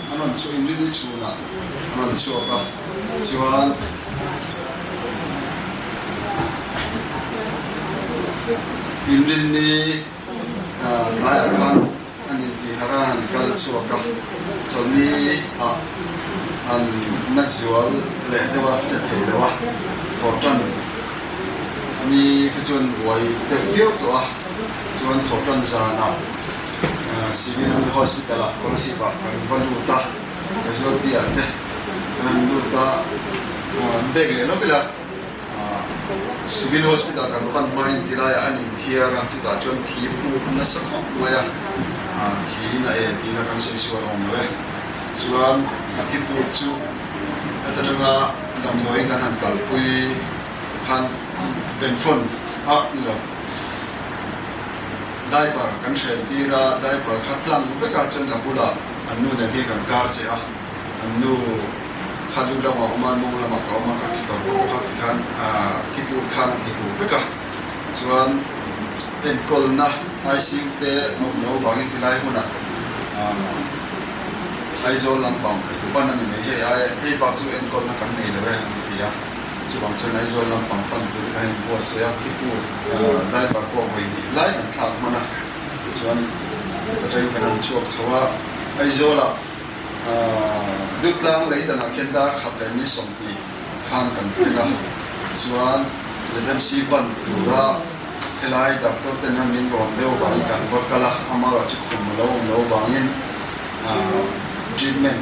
A rawn chhuah in rilru chhunah a rawn chhuak a, chuan inril ni tlai ah khan a ni tih har a rawn kal chhuak a, chawlhni ah an na zual leh deuh a, che thei lo a, Thawhtan ni kha chuan buai deuh viau tawh a, chuan Thawhtan zanah. Civil Hospital ah kawr sip ah kan va lut a, casualty ah te kan han lut a, an bag leh hlawm ila Civil Hospital kan pan hma in tilai ah an inthiar a, chutah chuan thi phuk nasa khawp mai a, thi in a el tihna kan sawi sual awm lo e, chuan a thi phuk chu heta tanga damdawiin kan han kalpui khan pen phone a ni lo. Diaper kan hrel tir a, diaper kha tlang vekah chuan a bula an nu nem hi kan kar che a, an nu kha lut lamah a awm a, mawng lamah ka awm a, ka kekawr ka bawk a ti khan thiput khan a ti hmuh vek a, chuan enkawlna ICU te mawp no vangin ti lai hmunah Aizawl lampang van a ni mai hei, hei bak chu enkawlna kan nei lo e an ti a. Chuvang chuan Aizawl lampang pantu te kha in buatsaih a, Khipu driver pawh vawi hnih lai an thlak hman a, chuan heta train khan an chhuak chho a, Aizawla Dutlang lei danah khian dar khat leh min sawm tih khan kan thleng a, chuan ZMC ban tura helai doctor tena min rawn deuh vangin kan va kal a, amah erawh chu khum a lo awm lo vangin treatment.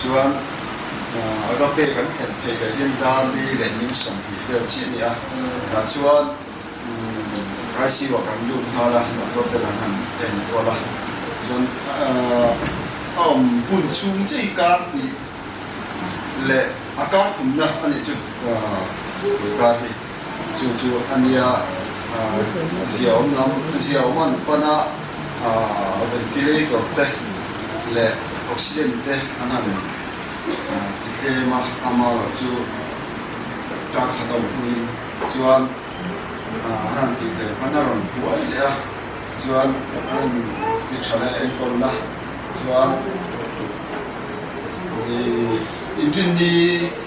Chuan a gape kan thlen phei leh hian Dali leh min sawmhnih vel chi a ni a. Tah chuan ICU-ah kan lut nghal a, doctor te lam han en kual a. Chuan a awm hun chhung chiah hi kar tih leh a kar khumna a nih chu kar hi. Chu chu a nia, zia awm lam, zia awm an pan a, ventilator te leh oxygen te an han ti tlem a, ama erawh chu ka khat awm hnuin chuan an han tih tel khan a rawn buai leh a, chuan an rawn ti tha leh a enkawl na chuan engtin ni.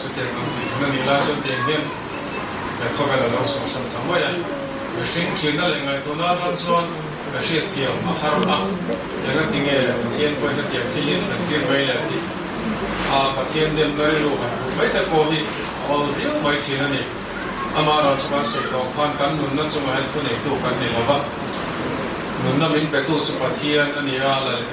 Chutiang kan hmuh theih na nih lai chuan tiang hian khaw vel a lo chhuahsan ta mai a, mihring thirna leh ngaihtuahna atang chuan ka hriat thiam a har a, eng a ti nge Pathian pawhin hetiang thil hi a thiam tir mai le a tih a, Pathian demna rilru han hmuh mai te pawh hi a awl viau mai thin a ni, amah erawh chu kan sawi tawh khan kan nunna chungah hian khuneitu kan ni lo va, nunna min petu chu Pathian a ni a, la leh.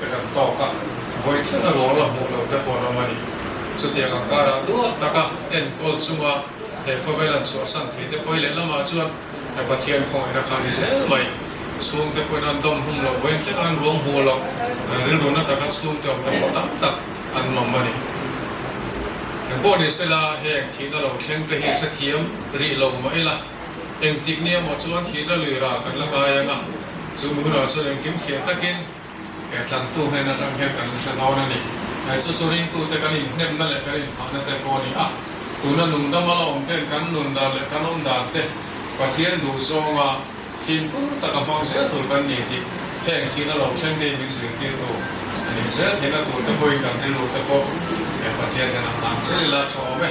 Ka dam tawk a, vawi thleng a rual a hmuh lo te pawh an awm a ni. Chutiang ang karah duak tak a enkawl chunga he khawvel an chhuahsan thei te pawi leh lamah chuan he Pathian khawngaih na kha a ni zel mai. Chhung te pawhin an dawm hum lo, vawi thleng a an ruam hmu lo, rilru na taka chhungte awm te pawh tam tak an mam a ni. Engpawh ni se la, heng thihna lo thleng te hi hrethiam rih lo mah ila, engtik ni emaw chuan thihna lui ral kan la kai ang a, chu mi hunah chuan engkim fiah takin, He tlangtu hnen atang hian kan hre dawn a ni. Hei chu chu ringtute kan inhnemna leh kan inphahna te pawh a ni a. Tuna nungdam a la awm ten kan nun dan leh kan awm dan te Pathian duh zawnga fimkhur taka hmang zel tur kan ni tih heng khi na lo thleng dei min zirtirtu a nih zel theihna tur te pawhin kan rilru te pawh he Pathian hian a nghang zel ila thu a awm e.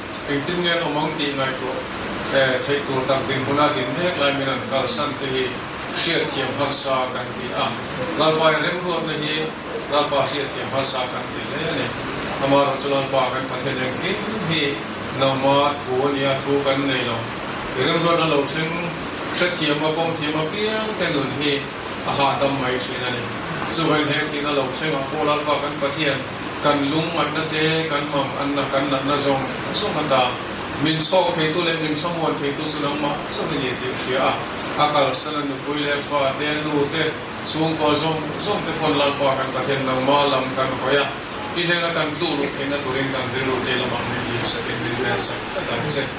Engtin nge an awm ang tih ngaihtuah theih tur tak dinhmuna din mek lai min an kalsan te hi hriatthiam harsa kan ti a, Lalpain remruatna hi Lalpa hriatthiam harsa kan ti hle a ni. Amah erawh chu Lalpa kan Pathian engkim hi nangma thu a nia, thu kan nei lo. I remruatna lo thleng hrethiama, kawmthiama piang te nun hi a hahdam mai thin a ni. Chu vawin he thinna lo thlengah pawh Lalpa kan Pathian, Kan lung matna te, kan mam anna, kan natna zawng thil zawng a ta. Min chhawk theitu leh min thlamuan theitu chu nangmah chauh a ni tih a hria a. A kalsan a nupui leh fa te, a nu te, chhungkua zawng zawng te pawn Lalpa kan Pathian nangma lam kan hawi a. I hnena kan tluk lawm theihna turin kan rilru teh lamah min lir sakin min rian sak tak ang che.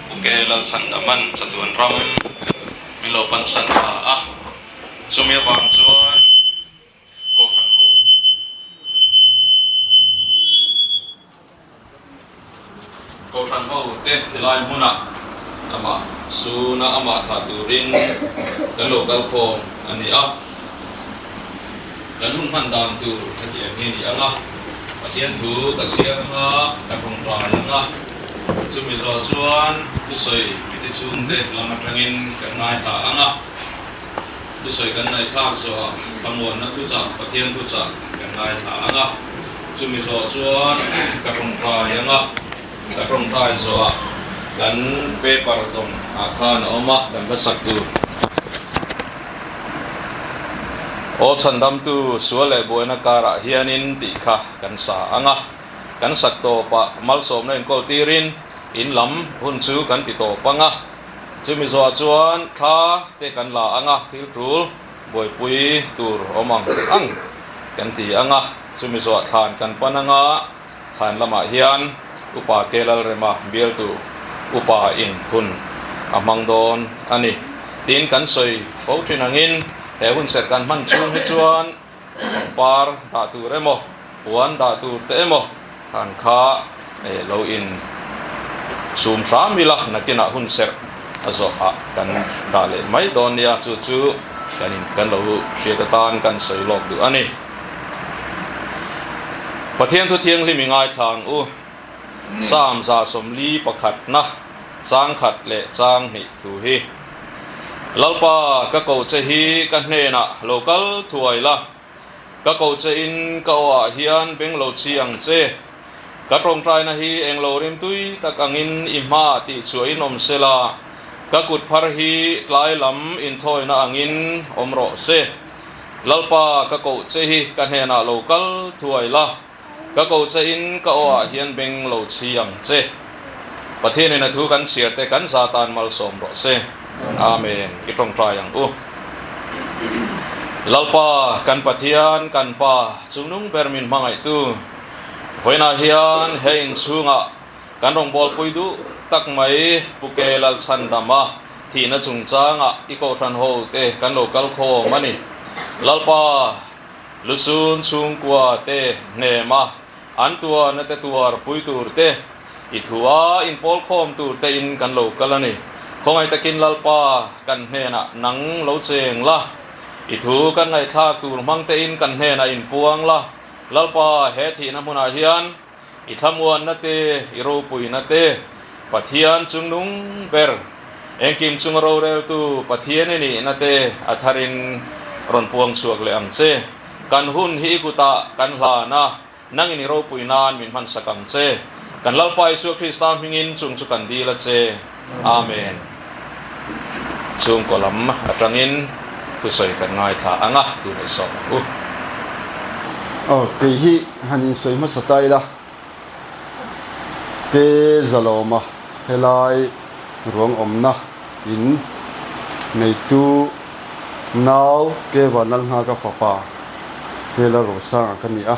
Ke Lalsan a man chatuan ram min lo pansan ta a, chumi avang chuan kawng han ho tum lo. Kohhran ho te helai hmunah amah suna amah thlah turin kan lo kalkhawm a ni a. kan hun hman dan tur ka ti em hi ni ang a, Pathian thu ka chhiar hma ka tawngtai ang a, chumi zawh chuan thusawi mite chhungte lam atangin kan ngaithla ang a, thusawi kan naithlak zawha thlamuanna thuchah Pathian thuchah kan ngaithla ang a, chumi zawh chuan ka tawngtai ang a. Ka tawngtai zawha kan paper dawm ah khan a awm a, kan hmasak tu Aw chhan damtu sual leh buaina kar ah hian in tih kha kan sa ang a, kan sak tawp ah malsawmna inko tir in in lam hun chu kan ti tawp ang a, chu mi zawha chuan thla te kan la ang a, thil tul buaipui tur awm ang ang kan ti ang a, chu mi zawha thlan kan pan ang a. Thlain lamah hian upa Telalrema bialtu upa in hun a hmang dawn a ni tiin kan sawi fo thin angin he hunserh kan hman chhung hi chuan pangpar dah tur emaw puan dah tur te emaw khan kha lo in sum hram ila nakinah hunserh a zawhah kan dah leh mai dawn nia chu chu kan in kan lo hriat atan kan sawi lawk duh a ni. Pathian thu thianghlim i ngaithlang u. Psalm za sawmli pakhat na chang khat leh chang hnih thu hi, Lalpa, ka ko che hi ka hnenah lo kal thuai la, ka ko che in ka aw ah hian beng lo chhi ang che. Ka tawngtaina hi eng lo rimtui tak angin i hma ah tihchhuah in awm sela, ka kut phar hi tlai lam inthawina angin awm rawh se. Lalpa ka koh che hi ka hnenah lo kal thuai la, ka koh che in ka awhah hian beng lo chhi ang che. Pathianin a thu kan chhiar te kan za tan malsawm rawh se. Amen. I tawngtai ang u. Lalpa, kan Pathian, kan Pa, chungnung ber min hmangaihtu, vawiinah hian hei inchhungah, Kan rawn bualpui duh tak mai Pu Kea Lalchhan dama thihna chungchangah i kohhran ho te kan lo kal khawm a ni. Lalpa Lusun chhungkua te hnema an tuar nate tuar pui tur te, i thu a inpawl khawm tur te in kan lo kal a ni. Khawngaih takin Lalpa kan hnenah nang lo cheng la, i thu kan ngaihthlak tur hmang te in kan hnenah in puang la. Lalpa he thihna hmunah hian. i thlamuanna te, i ropuina te, Pathian chung nung ber, engkim chunga roreltu Pathian i nihna te a tharin rawn puang chhuak leh ang che. Kan hun hi i kut ah kan hlan a, nangin i ropui nan min hmansak ang che. Kan Lalpa Isua Krista hmingin chung chu kan dil a che. Amen. Chhungkaw lam atangin thusawi kan ngaithla ang a, duhnaih sawm ang u. Aw, kei hi han insawi hmasa ta ila, Te Zalawma helai ruang awmna in neitu nau Keva Nalnga ka fapa Hela Rosanga ka ni a.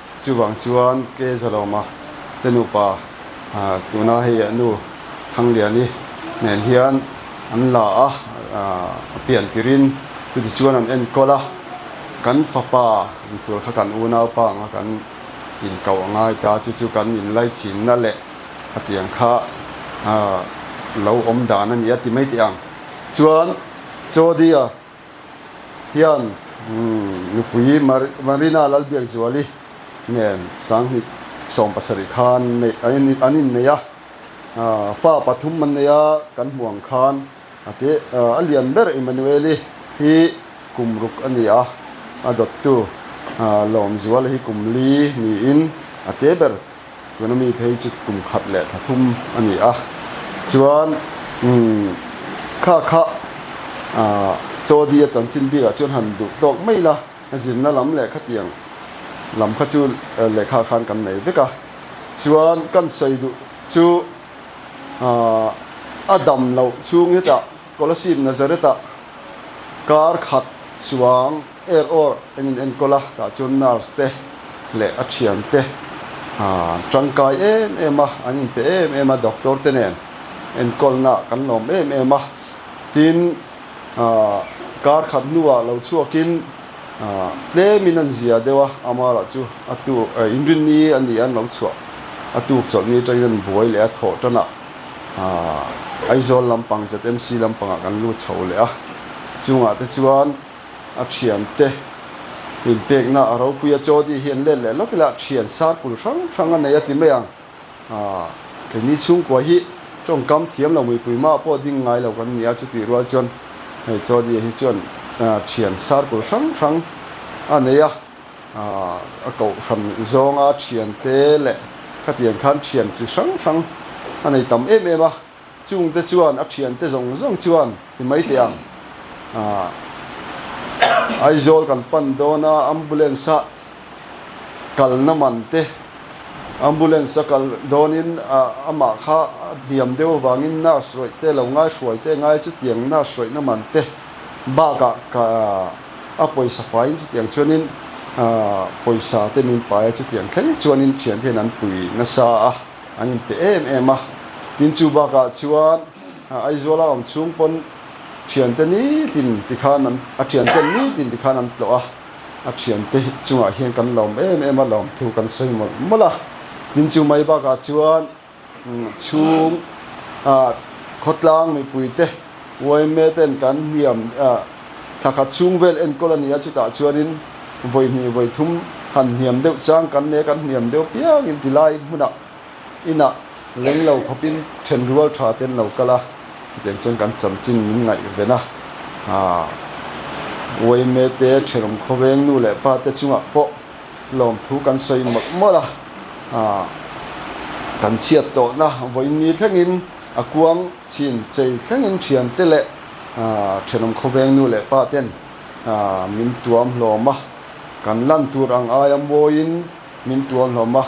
Chuvang chuan Kezalawma te nupa tuna hei a nu Thangliani nen hian an la a a pian tirin chutiah chuan an enkawl a, Kan fapa ni tur kha kan unaupa anga kan inkauh a ngai ta, chu chu kan inlaichinna leh khatiang kha lo awm dan a ni a ti mai teh ang. Chuan Chawdia. hian nupui Marina Lalbiakzuali nen sanghnih sawm pasarih khan an innei a, fa pathum an nei a, kan hmuh ang khan a te a lian ber Emmanueli hi kum ruk a ni a, a dawttu Lawmzuala hi kum li niin a te ber. Tuna mi phei chu kum khat leh tha thum a ni a, chuan kha kha Chawdi a chanchin bik ah chuan han duh tawk mai la, zirna lam leh khatiang lam kha chu lehkha khan kan nei vek a, chuan kan sawi duh chu a dam loh chhung hetah Colosseum Nazareth ah kar khat chuang Er aw, eng in enkawl a, tah chuan nurse te leh a thian te tangkai em em a, an in pe em em a, doctor te nen enkawl nah kan lawm em em a, tin kar khat hnu ah lo chhuak in tlem in an zia deuh a, Amar ah chu a tu in rin ni a nih an lo chhuah a tuk chawlh ni tan in an buai leh a, thawh tan ah Aizawl lampang ZMC lampang ah kan lut chho leh a, chungah te chuan. A thiante inpekna a ropui a, Jodi hian let leh lawk ila thian sar kul hrang hrang a nei a ti mai ang. Aw, keini chhungkua hi tawngkam thiam lo muipui mah pawh ding ngai lo kan nia, chutih rual chuan hei Jodi hi chuan thian sar kul hrang hrang a nei a, a kohhran zawnga thiante leh khatiang khan thian chi hrang hrang a nei tam em em a. Chungte chuan a thiante zawng zawng chuan i maiteh ang ah Aizawl kan pan dawn a, ambulance a kalna man te ambulance a kal dawnin amah kha a hniam deuh avangin nurse rawih te lo ngai hruai te ngai chutiang nurse rawihna man te bak ah ka a pawisa faiin chutiang chuanin pawisa te min paia chutiang thleng chuanin thiante hian an pui nasa a. An inpe em em a, tin chu bakah chuan Aizawl-a awm chhung pawn thiante nitin ti khan an, a thianten nitin ti khan an tlawh a, a thiante chungah hian kan lawm em em a, lawm thu kan sawi mawlh mawlh a, tin chu mai bakah chuan chhung khawtlang mipuite, Uaime ten kan hliam ah thla khat chhung vel enkawl a ni a, chutah chuanin vawihnih vawithum han hniam deuh chang kan nei a, kan hniam deuh piang in ti lai hmun ah inn ah leng lo khawp in then rual tha te an lo kal a, chutiang chuan kan cham chin min ngaih ven a, aah uaime te thenawm khawveng nu leh pa te chung ah pawh lawmthu kan sawi mawlh mawlh a, aah kan chhiat tawh na vawiin ni thleng in a kuang Chin chei thlengin thiante leh thianawm khawveng nu leh pa ten min tuam hlawm a, kan lan tur ang aia mawiin min tuam hlawm a,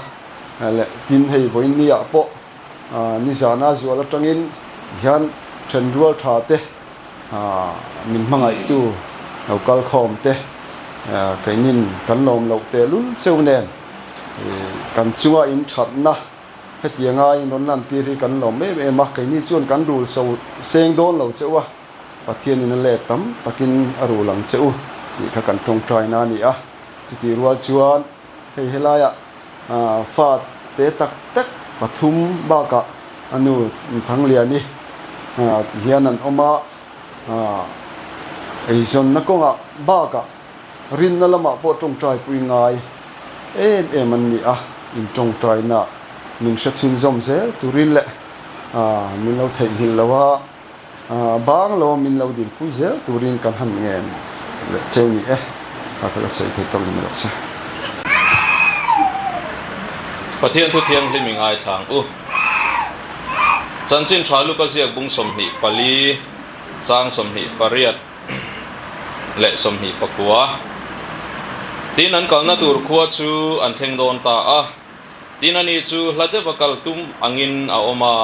leh tin hei vawinia pawh nizana zual atangin hian thenrual tha te, min hmangaihtu lo kal khawm te keinin kan lawm loh tehlul cheu nen kan chunga inthatna, Hetianga a inrawn lantîr hi kan lâwm êm êm a, keini chuan kan rûl so sêng dâwn lo che u a, Pathianin a lêt tam takin a rûl ang che u tih kha kan ṭawngṭaina a ni a. Chutih rual chuan hei helaia fa tê tak tak pathum bâkah a nu Thangliani ti hian an awm a, eizawnna kawnga bâkah, Rinna lamah pawh tawngtaipui ngai em em an ni a, in tawngtainah min hre chhinzawm zel turin leh min lo theihnghilh lo a, bang lo min lo dilpui zel turin kan han ngen leh che ni e, kha ka la sawi thei tawk in ruah che. Pathian Thu Thianghlim i ngaithlang u. Chanchin Tha Luka Ziakbung sawmhnih pali, Chang sawmhnih pariat. leh sawmhnih pakua. Tin an kalna tur khua chu an thleng dawn ta a, tin a ni chu hla deuh a kal tum angin a awm a,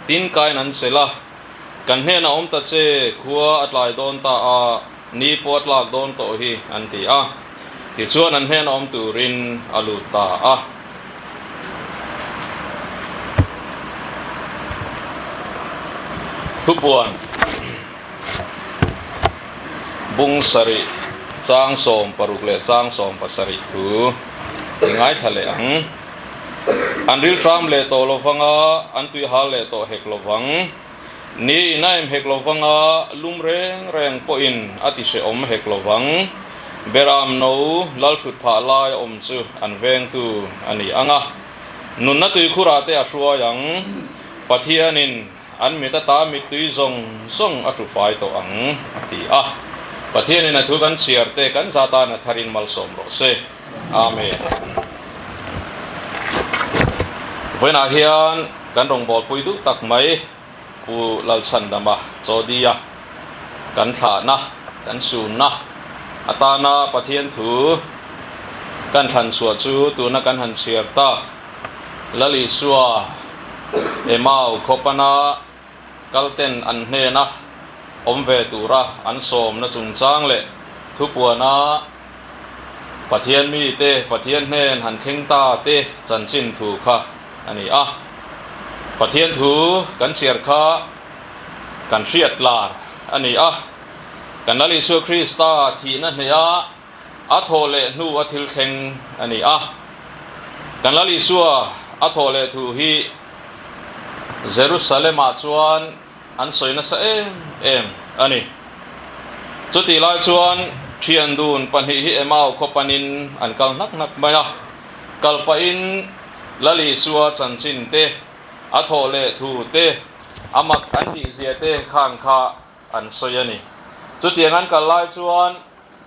tin kain an sel a, kan hnenah awm ta che, khua a tlai dawn ta a, ni pawh a tlak dawn tawh hi an ti a, tichuan an hnenah awm turin a lut ta a. Thupuan. Bung sarih chang sawm paruk leh chang sawm pasarih thu i ngaithla leh ang. An rilṭam leh tawh lo vang a, an tuihal leh tawh hek lo vang. Ni in a em hek lo vang a, lum reng reng pawhin a ti hre awm hek lo vang. Beram no lal ṭhut phah lai a awm chu an vengtu a ni ang a. Nunna tuikhur ah te a hruai ang. Pathian in. An mit ata mittui zawng zawng a ṭufai tawh ang, a ti a. Pathianin a thu kan chhiar te kan za tana tharin malsawm rawh se. Amen. Vawiinah hian kan rawn bawlpui duh tak mai Pu Lalchhandama Chawdia kan thlahna, kan sunna atana Pathian thu kan thlanchhuah chu tuna kan han chhiar tak. Lalisua, Emau khaw pana kalten an hnena awm ve tura an sawmna chungchang leh thupuana Pathian mite Pathian hnen han thleng ta te chanchin thu kha a ni a. Pathian thu kan chhiar kha kan hriat tlar a ni a. Kan Lalisua Krista thihna hneha a thaw leh hnu a thil thleng a ni a. Kan Lal Isua a thaw leh thu hi Jerusalemah chuan an sawi nasa em em a ni. Chutih lai chuan ṭhiandun pahnih hi Emau khaw panin an kal hnak hnak mai a. Kal pahin Lal Isua chanchin te, a thaw leh thu te, a mak an tihzia te khan kha an sawi a ni. Chutiang an kal lai chuan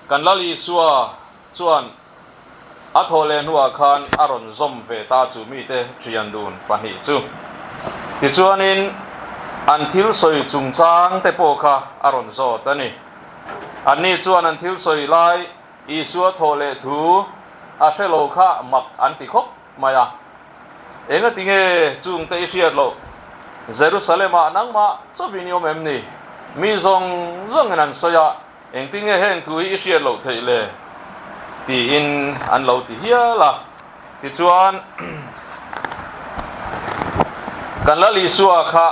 kan Lal Isua chuan a thaw leh hnuah khan a rawn zawm ve ta chu mite thian dun pahnih chu. Tichuanin an thil sawi chungchang te pawh kha a rawn zawt a ni. Anni chuan an thil sawi lai Isua thaw leh thu a hre lo kha mak an ti khawp. mai a, Engatinge chungte i hriat loh? Jerusalemah nangmah chawvin i awm em ni? Mi zawng zawngin an sawi a, Engtinge heng thu hi i hriat loh theih le? tiin an lo ti hial a. Tichuan, kan Lal Isua kha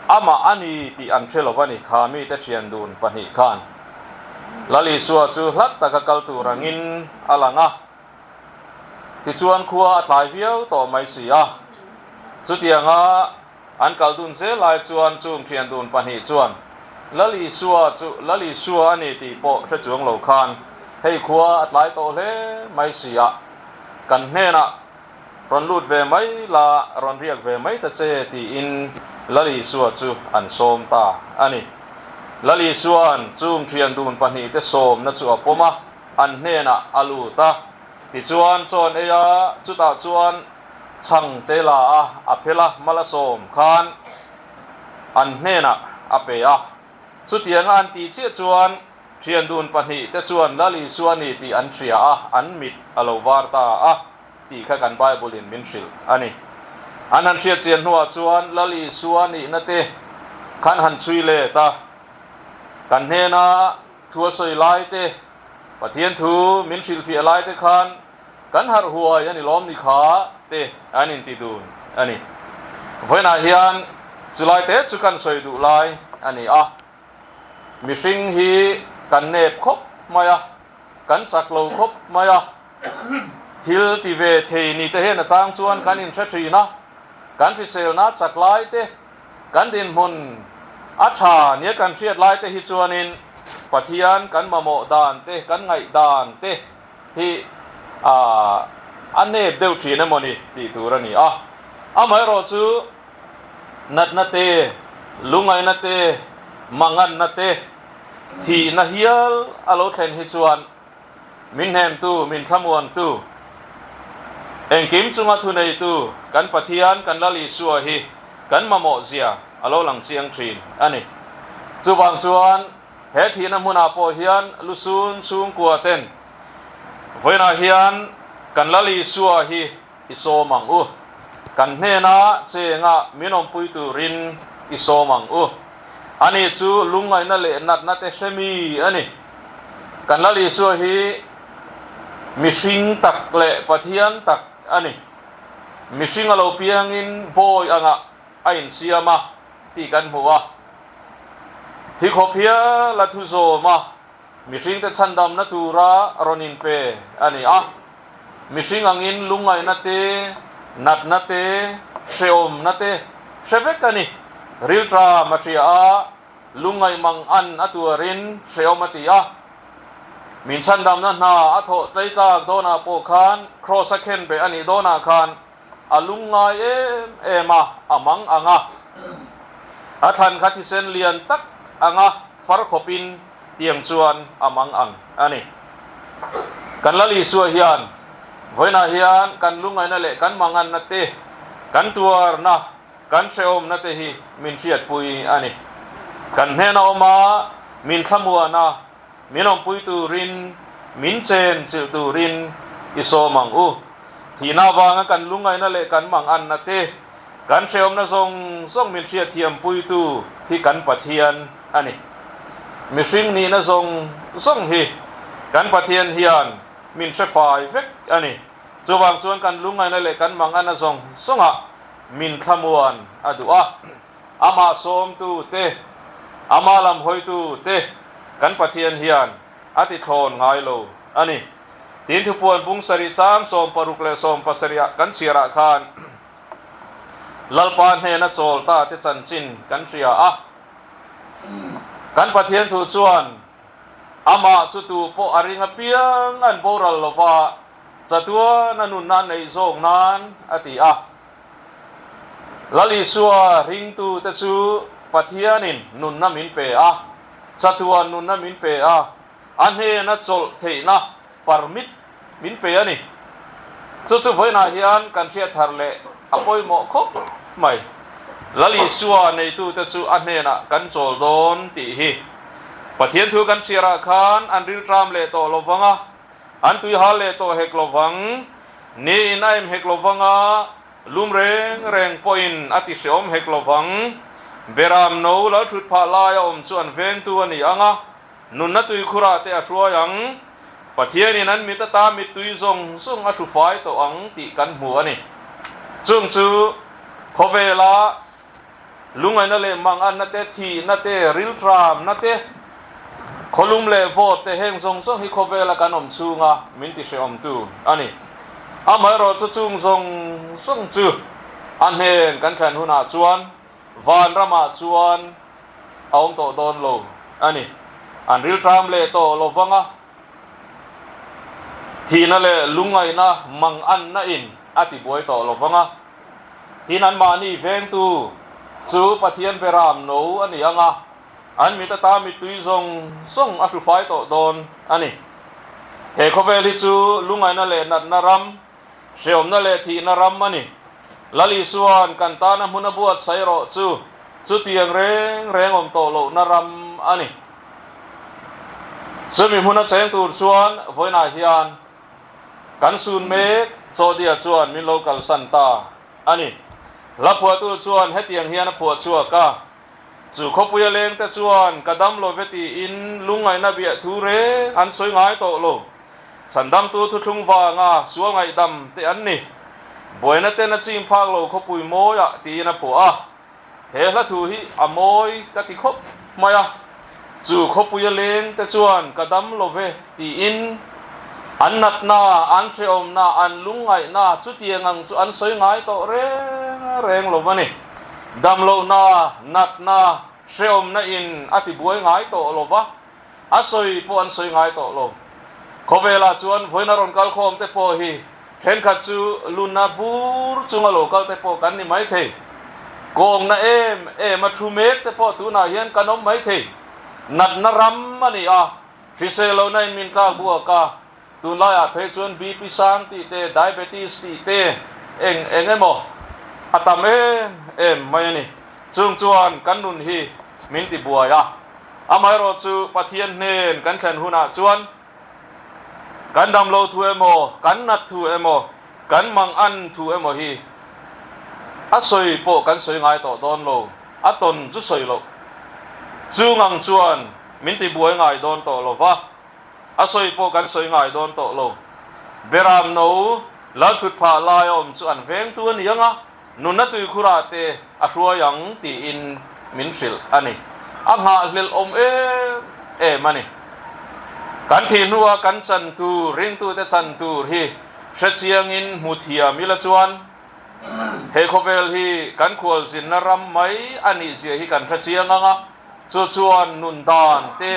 amah a ni tih an hre lo va ni kha mite thian dun pahnih khan. Lal Isua chu hlat taka kal tur angin a lang a. Tichuan khua a tlai viau tawh mai si a, chutianga an kal dun zel lai chuan chum thian dun pahnih chuan Lali Sua chu Lali Sua a ni tih pawh hre chuang lo khan hei khua a tlai tawh hle mai si a, kan hnenah rawn lut ve mai la, rawn riak ve mai ta che tiin Lali Sua chu an sawm ta a ni. Lali Sua'n chum thian dun pahnihte sawmna chu a pawm a. an hnenah a lut a, tichuan chawn ei a, chutah chuan chhang te la a, a phel a, mala sawm khan an hnenah a pe a. Chutianga an ti chiah chuan hriandun pahnih te chuan Lal Isua a ni tih an hria a, an mit a lo var ta a tih kha kan Bible in min hrilh a ni. An han hriatchian hnuah chuan Lal Isua nihna te khan han chhui let a, kan hnenah, Thu a sawi laite, Pathian thu min hrilhfiah laite khan kan harh huai a ni lawm ni kha te an inti dun a ni. Vawiinah hian chu laite chu kan sawi duh lai a ni a. Mihring hi kan nep khawp mai a, kan chak lo khawp mai a. Thil ti ve thei ni te hian a chang chuan kan inhre thin a, kan hriselna chak laite Kan dinhmun a tha nia kan hriat lai te hi chuanin Pathian kan mamawh dan te, kan ngaih dan te hi aah a nep deuh thin emaw ni tih tur a ni a. Amaherawh chu natna te, lungaina te, manganna te, thihna hial a lo thlen hi chuan Min hnemtu, min thlamuantu, engkim chunga thuneitu kan Pathian, kan Lal Isua hi kan mamawhzia a lo lang chiang thin a ni. Chuvang chuan he thihna hmunah pawh hian lu sun chhungkuaten vawiinah hian kan Lal Isua hi I sawm ang u. Kan hnena chenga min awmpui turin i sawm ang u. Ani chu lungngaihna leh natna te hre mi a ni. Kan Lal Isua hi mihring tak leh Pathian tak a ni. Mihring a lo piangin bawi angah a insiam a tih kan hmu a. Thikhawp hial a thu zawm a. Mihringte chhandamna tura a rawn inpe a ni a, mihring angin lungngaihna te, natna te, hrehawmna te hre vek a ni. Rilṭha Maṭhia a lungngaih mang an a tuarin hrehawm a ti a, min chhandamna hna a thawh tleitlak dawnah pawh khan Kraws a khenbeh a nih dawnah khan A lung ngai em em a, a mang ang a. A thlan kha thisen lian tak ang a, far khawpin tiang chuan a mang ang a ni. Kan Lal Isua hian vawiinah hian kan lungaina leh kan manganna te, kan tuarna, kan hrehawmna te hi min hriatpui a ni. Kan hnena awma min thlamuana Min lawmpui turin, min chen chilh turin i sawm ang u. Thihna avanga kan lungaina leh kan mang anna te, kan hrehawmna zawng zawng min hriatthiam puitu hi kan Pathian a ni. Mihring nihna zawng zawng hi kan Pathian hian min hrefai vek a ni. Chuvang chuan kan lungaina leh kan mang anna zawng zawngah min thlamuan a duh a. Amah sawmtu te, Amah lam hawitu te kan Pathian hian a tithlawn ngai lo a ni. Tin, Thupuan bung sarih chang sawm paruk leh sawm pasarihah kan chhiarah khan Lalpa hnena chawl ta te chanchin kan hria a. Kan Pathian thu chuan Amah chu tu pawh a ring apiang an boral lova, chatuan a nunna neih zawk nan a ti a. Lalisua hringtu te chu Pathianin nunna min pe a, chatuan nunna min pe a, a hnena chawlh theihna permit min pe a ni. Chu chu vawiinah hian kan hriatthar leh a pawimawh khawp mai. Lalisua neitu te chu a hnenah kan chawl dawn tih hi Pathian thu kan chhiarah khan an riltram leh tawh lovang a, an tuihal leh tawh hek lovang. Niin a em hek lo vang a, lum reng reng pawhin a ti hreawm hek lo vang. Beram no lalthut phah lai a awm chu an vengtu a ni ang a, nunna tui khurah te a hruai ang. Pathianin an mit ata mittui zawng zawng a hlufai tawh ang tih kan hmu a ni. Chung chu khawvela Lungaina leh mangatna te, thihna te, riltramna te, khawlum leh vote te heng zawng zawng hi khawvela kan awm chhunga min tihrehawmtu a ni. Amaherawh chu chung zawng zawng chu a hnen kan thlen hunah chuan Vanramah chuan a awm tawh dawn lo a ni. An riltram leh tawh lo vang a. Thihna leh lungngaihna mang anna in a ti buai tawh lo vang a. Tin an mahni vengtu chu Pathian pe ram no a ni ang a, an mit ata mittui zawng zawng a hlufai tawh dawn a ni. He khawvel hi chu lungngaihna leh natna ram hreawmna leh thihna ram a ni. Lal Isua'n kan tana hmuna buatsaih erawh chu chutiang reng reng awm tawh lohna ram a ni. Chumi hmun a cheng tur chuan vawiinah hian kan sun mek Chawdia chuan min lo kalsan ta a ni. Hla phuahtu chuan hetiang hian a phuah chhuak a, Chu khawpuia leng te chuan ka dam lo ve tiin lungngaihna bia thu reng an sawi ngai tawh lo. Chhandamtu thuthlung vanga sualngaih dam te an ni. Buaina ten a ching phak lo khawpui mawiah tiin a phuah a. He hlathu hi a mawi ka ti khawp mai a. Chu khawpuia leng te chuan ka dam lo ve tiin an natna, an hrehawmna, an lungngaihna chutiang ang chu an sawi ngai tawh reng reng lo a ni. Damlohna, natna, hrehawmna in a ti buai ngai tawh lo va, a sawi pawh an sawi ngai tawh lo. Khawvela chuan vawiin a rawn kal khawm te pawh hi. Thenkhat chu lunna bur chunga lokal te pawh kan ni mai thei. Kawngna em em a thu mek te pawh tunah hian kan awm mai thei. Natna ram a ni a, hrisel lohna in min kak buak a. Tunlaiah phei chuan BP sang tih te, diabetes tih te eng eng emaw a tam em em mai a ni. Chung chuan kan nun hi min ti buai a. Amaherawhchu Pathian hnen kan thlen hunah chuan, Kan damlo thu emaw, kan nat thu emaw, kan mang an thu emaw hi a sawi pawh kan sawi ngai tawh dawn lo, a tawn chu sawi loh. Chu ngang chuan min ti buai ngai dawn tawh lo va, a sawi pawh kan sawi ngai dawn tawh lo. Beram no, Lalthut phah laia awm chu an vengtu a ni ang a. Nuna tuikhura te a hruai ang tiin min hrilh a ni. A nghah hlelhawm em em a ni. Kan thih hnua kan chan tur, ringtute chan tur hi hrechiangin hmu thiam ila chuan he khawvel hi kan khualzinna ram mai a nihzia hi kan hrechiang ang a, chu chuan nun dan te,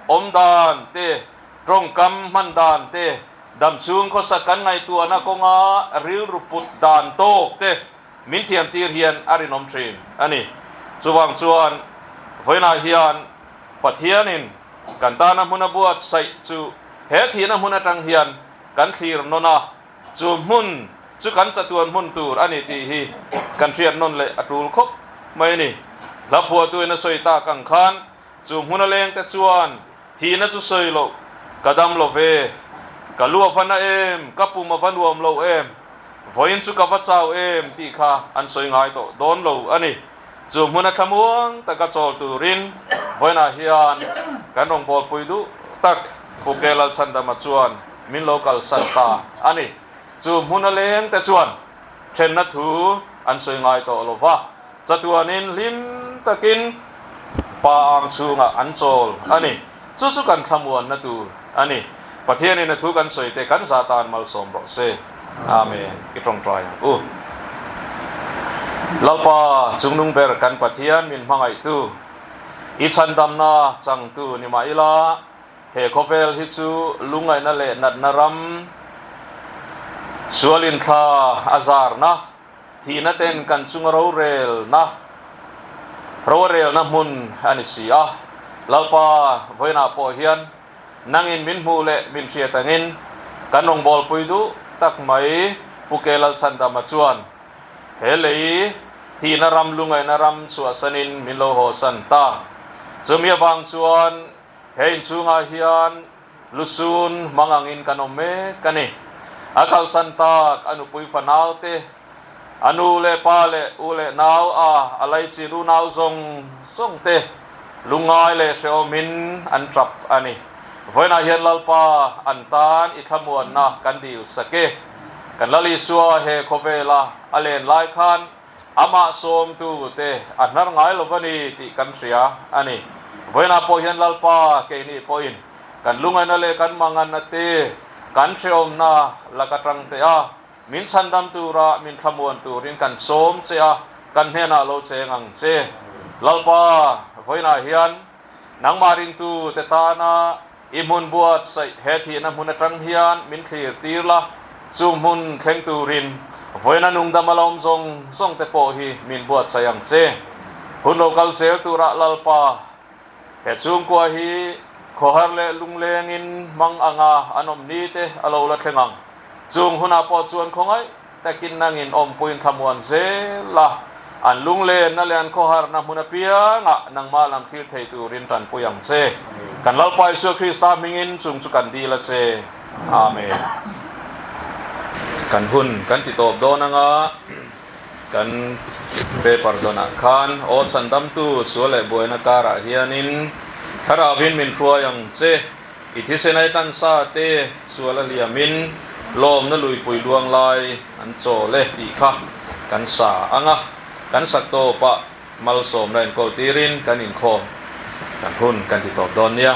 awm dan te Tawngkam hman dan te, damchhung khawsak kan ngaihtuahna kawnga rilru put dan tawk te min thiantir hian a rinawm thin a ni. Chuvang chuan vawiinah hian Pathianin kan tana hmun a buatsaih chu he thihna hmun atang hian kan thlir nawn a, chu hmun chu kan chatuan hmun tur a ni tih hi kan hriat nawn leh a tul khawp mai a ni. Hlaphuahtuin a sawi tak ang khan Chu hmun a leng te chuan thihna chu sawi loh ka dam lo ve, ka lu a va na em, ka pum a va nuam lo em, vawiin chu ka va chau em tih kha an sawi ngai tawh dawn lo a ni. Chu hmuna thlamuang taka chawl turin vawiinah hian kan rawn bawlpui duh tak Pu Kea Lalchandama chuan min lo kalsan ta a ni. Chu hmun a leng te chuan thlenna thu an sawi ngai tawh lo va. Chatuanin hlim takin Pa ang chhungah an chawl a ni. Chu chu kan thlamuanna tur a ni. Pathianin a thu kan sawi teh kan za tan malsawm rawh se. Amen. I tawngtai ang u. Lalpa chungnung ber kan Pathian min hmangaihtu, i chhandamna changtu ni mah ila he khawvel hi chu lungaina leh natna ram sualin thla a zarna, Thihna ten kan chunga rorelna rorelna hmun a ni si a, Lalpa vawiinah pawh hian nangin min hmuh leh min hriat angin kan rawn bawlpui duh tak mai, Pu Kei Lalchandama chuan he lei thihna ram lungaihna ram chhuahsanin min lo hawhsan ta. Chumi avang chuan he inchhungah hian. Lu Sun hmang angin kan awm mek a ni. A kalsan tak a nupui fanau te, a nu leh pa leh u leh nau a, a lei chin unau zawng zawng te lu ngai leh hrehawmin an tap a ni. Vawiinah hian Lalpa an tan i thlamuanna kan dil sak e. Kan Lal Isua he khawvela a len lai khan Amah sawmtu te a hnar ngai lo va ni tih kan hria a ni. Vawiinah pawh hian Lalpa keini pawhin kan lungaina leh kan manganna te, kan hrehawmna lak atang teh a, min chhandam tura min thlamuan turin kan sawm che a, kan hnenah lo cheng ang che. Lalpa, vawiinah hian nangmah ringtu te tana I hmun buatsaih he thihna hmun atang hian min thlir tir la, chu hmun thleng turin vawiina nungdam a la awm zawng zawng te pawh hi min buatsaih ang che. Hun lo kal zel turah Lalpa he chhungkua hi khawhar leh lunglengin hmang anga an awm ni te a lo la thleng ang. Chung hunah pawh chuan khawngaih Takin nang in awmpui in thla muan zel a, an lunglenna leh an khawharna hmun apiangah nangmah lam thlir thei turin tanpui ang che. Kan Lalpa Isua Krista hmingin chung chu kan dil a che. Amen. Kan hun kan ti tawp dawn anga kan Pe Pardonah khan aw chan damtu sual leh buaina karah hianin thlarau in min hruai ang che. I thisen ai tlan sa te sual a hliam in lawm na luipui luang lai an chawl e tih kha kan sa ang a, kan sak tawp ah malsawm la enkawl tir in kan inkhawm kan hun kan ti tawp dawn nia.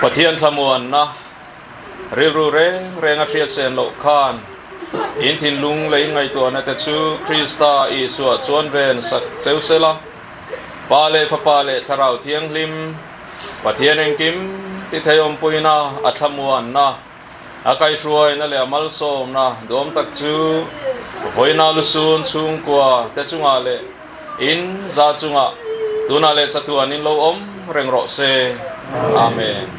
Pathian thlamuanna rilru reng renga hriatsen loh khan in thinlung lei ngaihtuah nate chu Krista Isua chuan ven sak cheu se la. Pa leh Fapa leh Thlarau Thianghlim, Pathian engkim titheiawmpuina a thlamuanna, A kaihruai na leh a malsawm na duam tak chu vawiina lusun chhungkua te chungah leh in za chungah tunah leh chatu an in lo awm reng rawh se. Amen.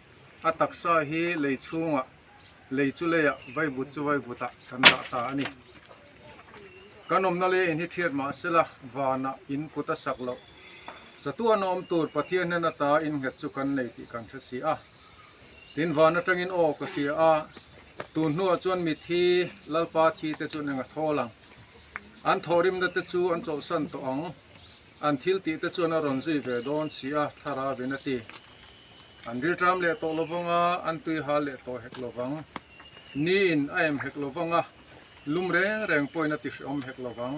A taksa hi lei chhungah, lei chu leiah, vaivut chu vaivutah kan dah ta a ni. Kan awmna lei a inhithiat mah se la, vanah in kut a sak loh. Chatuana awm tur Pathian nen ata innghet chu kan nei tih kan hre si a. Tin, van atangin aw ka hria a, tun hnuah chuan mithi, Lalpa thi te chuan enga thawl ang? An thawhrimna te chu an chawhsan tawh ang. An thil tih te chuan a rawn zui ve dawn si a, thlar a vin a ti. An rilṭam leh tawh lovang a, an tuihal leh tawh hek lovang. Ni in a em hek lovang a, lum reng reng pawhin a ti hreawm hek lovang.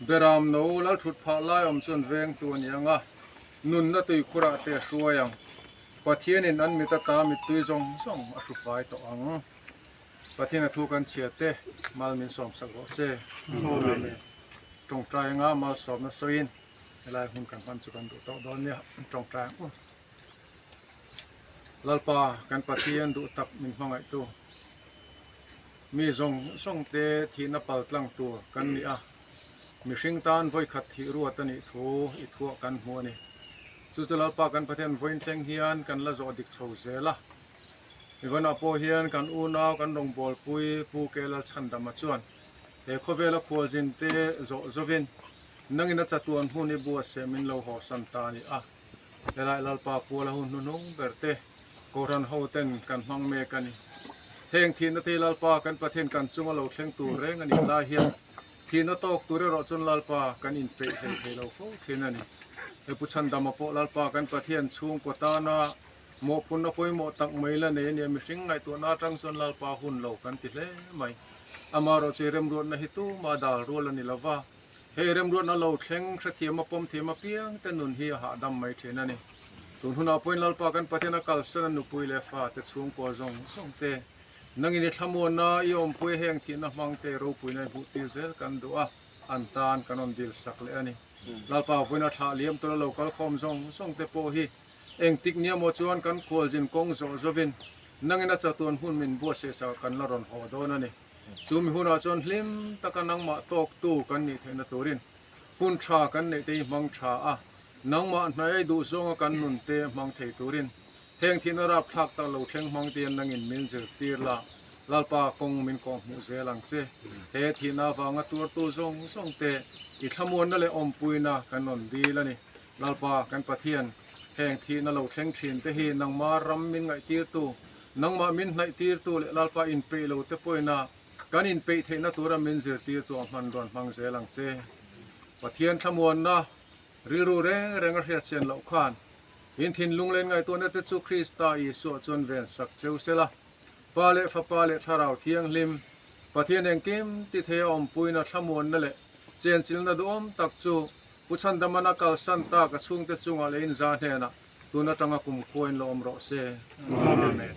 Beram no lal ṭhut phah lai awm chuan veng tu a ni ang a, nunna tui khurah te a hruai ang. Pathian in an mit ata mittui zawng zawng a hru fai tawh ang. Pathian a thu kan chhiat te mal min sawm sak rawh se. Amen. Tawngtai anga mal sawmna sawiin helai hun kan hman chu kan duh tawh dawn nia. Tawngtai ang u. Lalpa kan Pathian duh tak min hmangaihtu, mi zawng zawng te thihna pal tlang tur kan ni a, mihring tan vawikhat thih ruat a nih thu i thuah kan hmu a ni. Chu chu Lalpa kan Pathian vawiin thleng hian kan la zawh dik chho zel a. Ivana pawh hian kan unau, kan rawngbawlpui Pu Kela Chandama chuan he khawvela khualzin te zawh zovin nangin a chatuan hmun i bua seh min lo haw san ta a ni a. Helai Lalpa Kuala hun hnuhnung ber te, Kohhran ho ten kan hmang mek a ni. Heng thihna te hi Lalpa kan Pathian kan chunga lo thleng tur reng a nih lai hian thihna tawk tur erawh chuan Lalpa kan in peih hleihthei lo fo thin a ni. He Pu Chandama pawh Lalpa kan Pathian chhungkaw tana Mawh pawn a pawimawh tak mai la nei a nia, mihring ngaihtuahna atang chuan Lalpa hun lo kan ti hle mai. Amaherawh chu i remruatna hi tuma dal rual a ni lo va, he i remruatna lo thleng hrethiam a pawm thiam apiang te nun hi a hahdam mai thin a ni. Tun hunah pawhin Lalpa kan Pathian a kalsan a nupui leh fate chhungkaw zawng zawng te, nangin i thlamuanna, i awmpui a heng thihna hmang te i ropuina i hmuhtir zel kan duh a, an tan kan rawn dil sak leh a ni. Lalpa vawiin a thlah liam tura lo kalkhawm zawng zawng te pawh hi, Engtik nia maw chuan kan kualzin kawng zawh zawhin nangin a chatuan hmun min buat sehsah kan la rawn haw dawn a ni. Chu mi hunah chuan hlim taka nangmah tawktu kan nih theihna turin hun tha kan neih te hi hmang tha a, nangmah hnaia duh zawnga kan nun te hmang thei turin heng thihna rapthlak ta lo thleng hmang tein nangin min zirtir la. Lalpa kawng min kawh hmuh zel ang che. He thihna avanga tuartu zawng zawng te i thlamuanna leh awmpuina kan rawn dil a ni. Lalpa, kan Pathian, heng thih na lo thleng thin te hi nangmah ram min ngaihtirtu, nangmah min hnaihtirtu leh Lalpa inpeihlo te pawina kan inpeih theihna tura min zirtirtu a hman rawn hmang zel ang che. Pathian thlamuanna rilru reng reng a hriatchian loh khan in thinlung len ngaihtuahna te chu Krista Isua chuan ven sak cheu se la. Pa leh Fapa leh Thlarau Thianghlim, Pathian engkim tithe a awmpuina thlamuanna leh chenchilna duhawm tak chu Pu Chandaman a kalsan tak a chhungte chungah leh inzah hnenah tun atanga kumkhuain la awm rawh se. Amen.